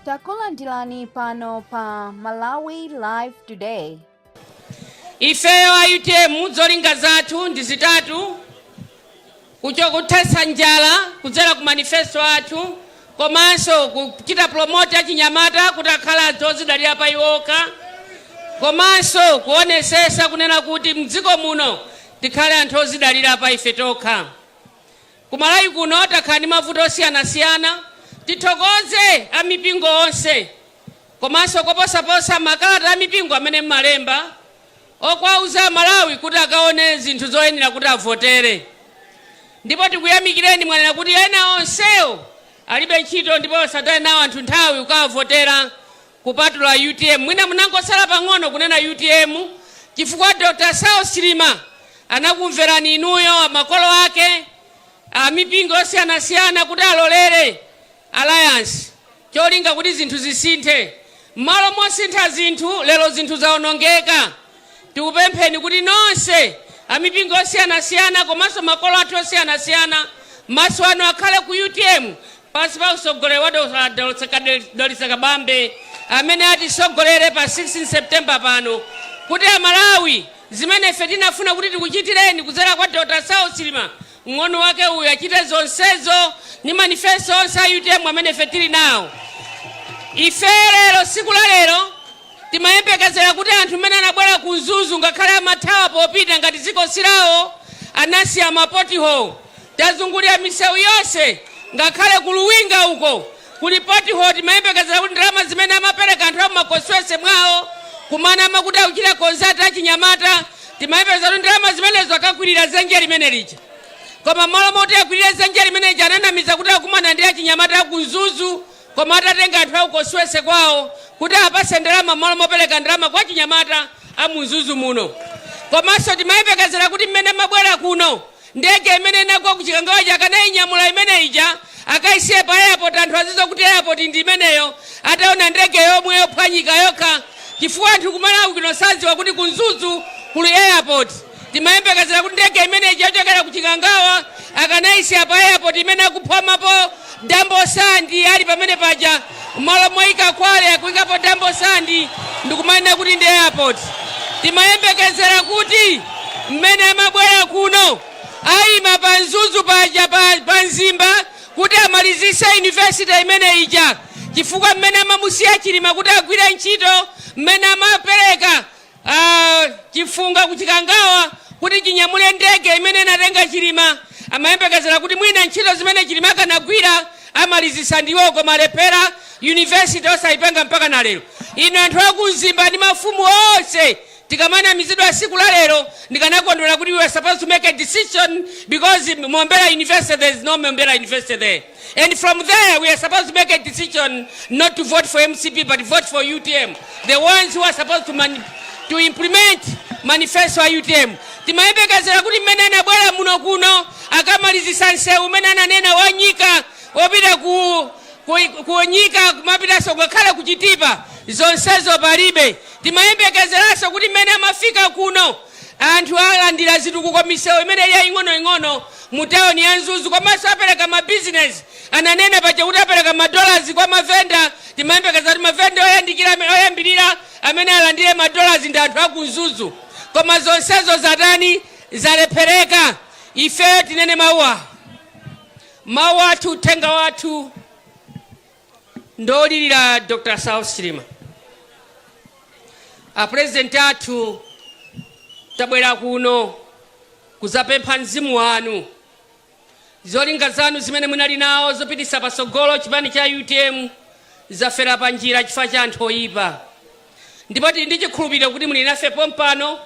takulandirani pano pa malawi live today ifeyo a utm zolinga zathu ndi zitatu kucho kuthetsa njala kudzera ku manifesto athu komanso kuchita promote achinyamata kuti akhale anthu odzidalira pa iwo okha komanso kuonetsetsa kunena kuti mdziko muno tikhale anthu odzidalira pa ife tokha Ku Malawi kuno takhala ndi mavuto osiyanasiyana. Tithokoze a mipingo onse komanso koposaposa makalata a mipingo amene mmalemba owauza a Malawi kuti akaone zinthu zoyenera kuti avotere. Ndipo tikuyamikireni mwanena kuti ena onsewo alibe ntchito ndipo asataye nawo anthu nthawi kukawavotera Kupatula utm mwina munangotsala pang'ono kunena utm chifukwa Dr saulos chilima anakumverani inuyo makolo ake amipingo yosiyanasiyana kuti alolere alliance cholinga kuti zinthu zisinthe mmalo mosintha zinthu lero zinthu zaonongeka. Tikupempheni kuti nonse, amipingo yosiyanasiyana komanso makolo athu osiyanasiyana, maso anu akhale ku utm pansi pa utsogoleri wa Dr Dalitso Kabambe amene atitsogolere pa 16 September pano kuti a Malawi zimene ife tinafuna kuti tikuchitireni kudzera kwa Dr Saulos Chilima Mng'ono wake uyu achite zonsezo ndi manifesto onse a utm amene ife tili nawo. Ife lero, tsiku la lero timayembekezera kuti anthu mmene anabwera ku Mzuzu ngakhale amathawa popita ngati dziko si lawo, anasiya ma pothole, tazungulira misewu yonse ngakhale ku Luwinga uko Kuli pothole timayembekezera kuti ndalama zimene amapereka anthu a mu ma constituency mwawo kumanama kuti akuchita concert achinyamata timayembekezera kuti ndalama zimenezo akakwirira zenje limene lija koma mmalo moti akwirire zenje limene lija ananamiza kuti akumana ndi achinyamata aku mzuzu koma atatenga anthu aku constituency kwawo kuti awapatse ndalama mmalo mopereka ndalama kwa achinyamata a mu mzuzu muno komanso timayembekezera kuti mmene mabwera kuno Ndege imene inagwa ku Chikangawa ija akanainyamula imene ija akaisiye pa airport anthu azidziwa kuti airport ndi imeneyo ataona ndege yomwe yophwanyika yokha chifukwa anthu ku Malawi kuno sadziwa kuti ku Mzuzu kuli airport. Timayembekezera kuti ndege imene ija yochokera ku chikangawa akanaisiya pa airport imene akuphwamapo Dambo Sandi ali pamene paja m'malo moyika Kwale akuyikapo Dambo Sandi ndikumanena kuti ndi airport. Timayembekezera kuti mmene amabwera kuno ayima pa Mzuzu paja pa, pa Mzimba kuti amalizise university imene ija chifukwa mmene amamusiya Chilima kuti agwire ntchito mmene amapereka Chifunga ku Chikangawa kuti chinyamule ndege imene inatenga Chilima amayembekezera kuti mwina ntchito zimene Chilima akanagwira amalizitsa ndi iwowo koma alephera, university osayipanga mpaka na lero. Inu anthu a ku Mzimba ndi mafumu onse tikamanamizidwa siku la lero ndikanakondwera kuti we are supposed to make a decision because Mombera university there is no Mombera university there. and from there we are supposed to make a decision not to vote for mcp but vote for utm the ones who are supposed to, mani- to implement manifesto a utm timayembekezera kuti mmene anabwera muno kuno akamalizisa nsewu umene ananena wanyika wopita ku ku- kunyika kumapitanso ngakhale kuchitipa zonsezo palibe timayembekezeranso kuti mmene amafika kuno Anthu alandira zitukuko misewu imene yaing'onoing'ono mu tawuni ya Mzuzu komanso apereka mabizinezi. Ananena paja kuti apereka madollarzi kwa mavenda, timayembekeza kuti mavenda oyambirira amene alandire madollarzi ndi anthu a ku Mzuzu. Koma zonsezo zatani? Zalephereka. Ifeyo tinene mawu awa. Mawu athu, uthenga wathu. Ndolilira Dr Saulos Chilima. A President athu tabwera kuno kuzapempha mzimu wanu. Zolinga zanu zimene munali nawo zopitisa pasogolo chipani cha UTM zafera pa njira chifukwa cha anthu oyipa. Ndipo tili ndi chikhulupiriro kuti muli nafe pompano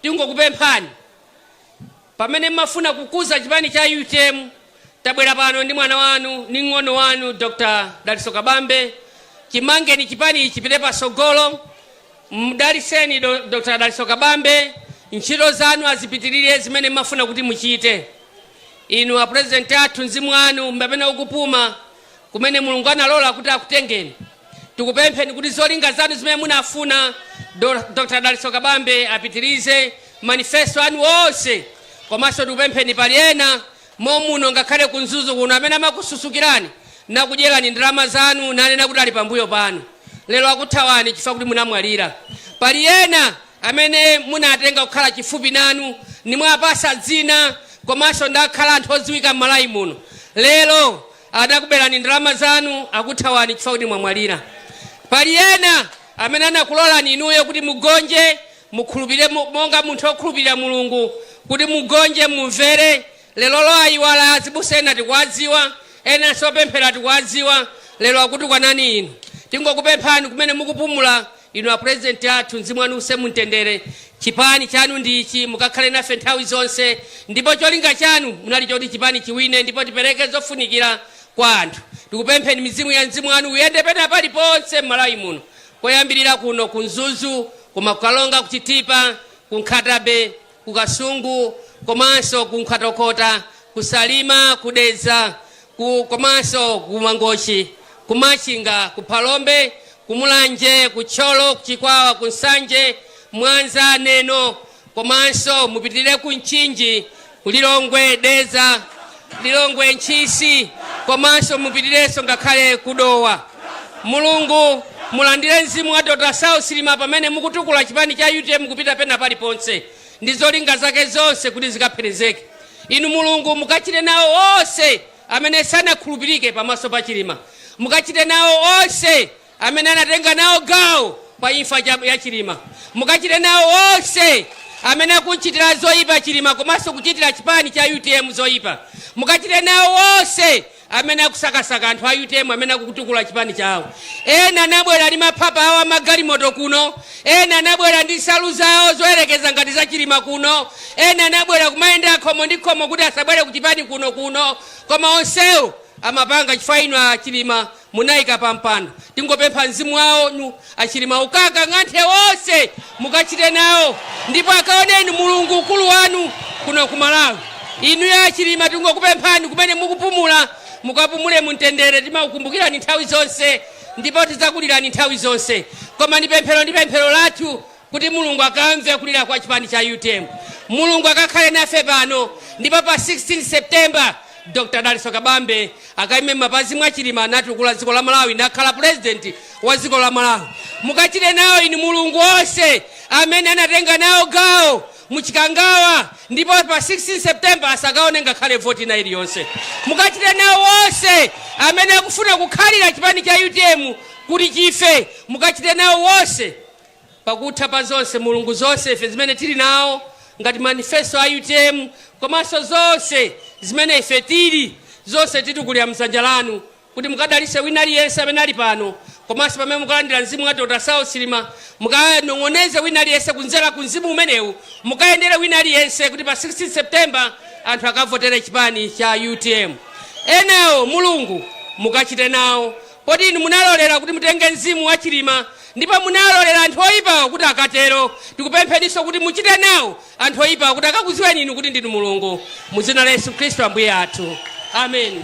tingokupemphani Pamene mmafuna kukuza chipani cha utm tabwera pano ndi mwana wanu ndi ng'ono wanu Dr Dalitso Kabambe chimangeni chipanichi chipite pasogolo mdaliseni do Dr Dalitso Kabambe ntchito zanu azipitilire zimene mmafuna kuti muchite inu a president athu mzimu wanu mbapena ukupuma kumene Mulungu analola kuti akutengeni. Tikupempheni kuti zolinga zanu zimene munafuna Do- Dr. Dalitso Kabambe apitirize manifesto anu onse komanso tikupempheni pali ena momuno ngakhale ku Mzuzu kuno amene amakususukirani nakudyerani ndalama zanu nanena kuti ali pambuyo panu lero akuthawani chifukwa kuti munamwalira pali ena amene munatenga kukhala chifupi nanu nimwapasa dzina komanso nakhala anthu odziwika mmalawi muno lero anakubelani ndalama zanu akuthawani chifukwa kuti mwamwalira pali ena amene anakulolani inuyo kuti mugonje mukhulupirire mu- monga munthu okhulupirira mulungu kuti mugonje mumvere lerolo ayiwala azibusa ena tikuwadziwa ena osapemphera tikuwadziwa lero akutukwanani inu tingokupemphani kumene mukupumula Inu a president athu mzimu wanu use mumtendere chipani chanu ndi ichi mukakhale nafe nthawi zonse ndipo cholinga chanu chinali choti chipani chiwine ndipo tipereke zofunikira kwa anthu tikupempheni mizimu ya mzimu wanu uyende pena paliponse m'Malawi muno kuyambira kuno ku Mzuzu koma ku Karonga ku Chitipa ku Nkhata Bay ku Kasungu komanso ku Nkhotakota, ku Salima, ku Dedza komanso ku Mangochi, ku Machinga, ku Phalombe, ku Mulanje, ku Thyolo, ku Chikwawa, ku Nsanje, Mwanza, Neno komanso mupitirire ku Mchinji, ku Lilongwe, Dedza, Lilongwe, Ntchisi komanso mupitirenso ngakhale ku Dowa. Mulungu mulandire mzimu wa Dr Saulos Chilima pamene mukutukula chipani cha utm kupita pena paliponse ndi zolinga zake zonse kuti zikapherezeke. Inu Mulungu mukachite nawo onse amene sanakhulupirike pamaso pa Chilima. Mukachite nawo onse amene anatenga nawo gawo pa imfa ya Chilima. Mukachite nawo onse amene akuchitira zoyipa Chilima komanso kuchitira chipani cha UTM zoyipa. Mukachite nawo onse amene akusakasaka anthu a UTM amene akutukula chipani chawo. Ena anabwera ndi maphapa awo amagalimoto kuno, ena anabwera ndi nsalu zawo zoyerekeza ngati za Chilima kuno, ena anabwera kumayenda khomo ndi khomo kuti asabwere ku chipani kuno kuno, koma onsewo amapanga chifukwa inu a Chilima Munaika pa mpando tingopempha mzimu wanu inu a Chilima ukakanthe onse mukachite nawo ndipo akaone inu mulungu ukulu wanu kuno ku Malawi inuyo a Chilima tingokupemphani kumene mukupumula mukapumule mumtendere timakukumbukirani nthawi zonse ndipo tidzakulirani nthawi zonse koma ndi pemphero ndi pemphero lathu kuti Mulungu akamve kulira kwa chipani cha utm. Mulungu akakhale nafe pano ndipo pa 16 September Dr. Dalitso Kabambe akaime m'mapazi mwa Chilima natukula dziko la Malawi nakhala president wa dziko la Malawi. Mukachite nawo inu Mulungu onse amene anatenga nawo gawo mu Chikangawa ndipo pa 16 September asakaone ngakhale voti na iliyonse. Mukachite nawo onse amene akufuna kukhalira chipani cha utm kuti chife mukachite nawo onse Pakutha pa zonse Mulungu zonse ife zimene tili nawo ngati manifesto a utm komanso zonse zimene ife tili zonse titulira m'dzanja lanu kuti mukadalise wina aliyense amene ali pano komanso pamene mukalandira mzimu wa Dr Saulos Chilima mukanong'oneze wina aliyense kudzera ku mzimu umenewu mukayendere wina aliyense kuti pa 16 September anthu akavotere chipani cha utm enawo Mulungu mukachite nawo Kodi inu munalolera kuti mutenge mzimu wa Chilima ndipo munalolera anthu oyipawo kuti akatero? Tikupempheninso kuti muchite nawo anthu oyipawo kuti akakuziweni inu kuti ndinu Mulungu mu dzina la Yesu Khristu Ambuye athu. Amen.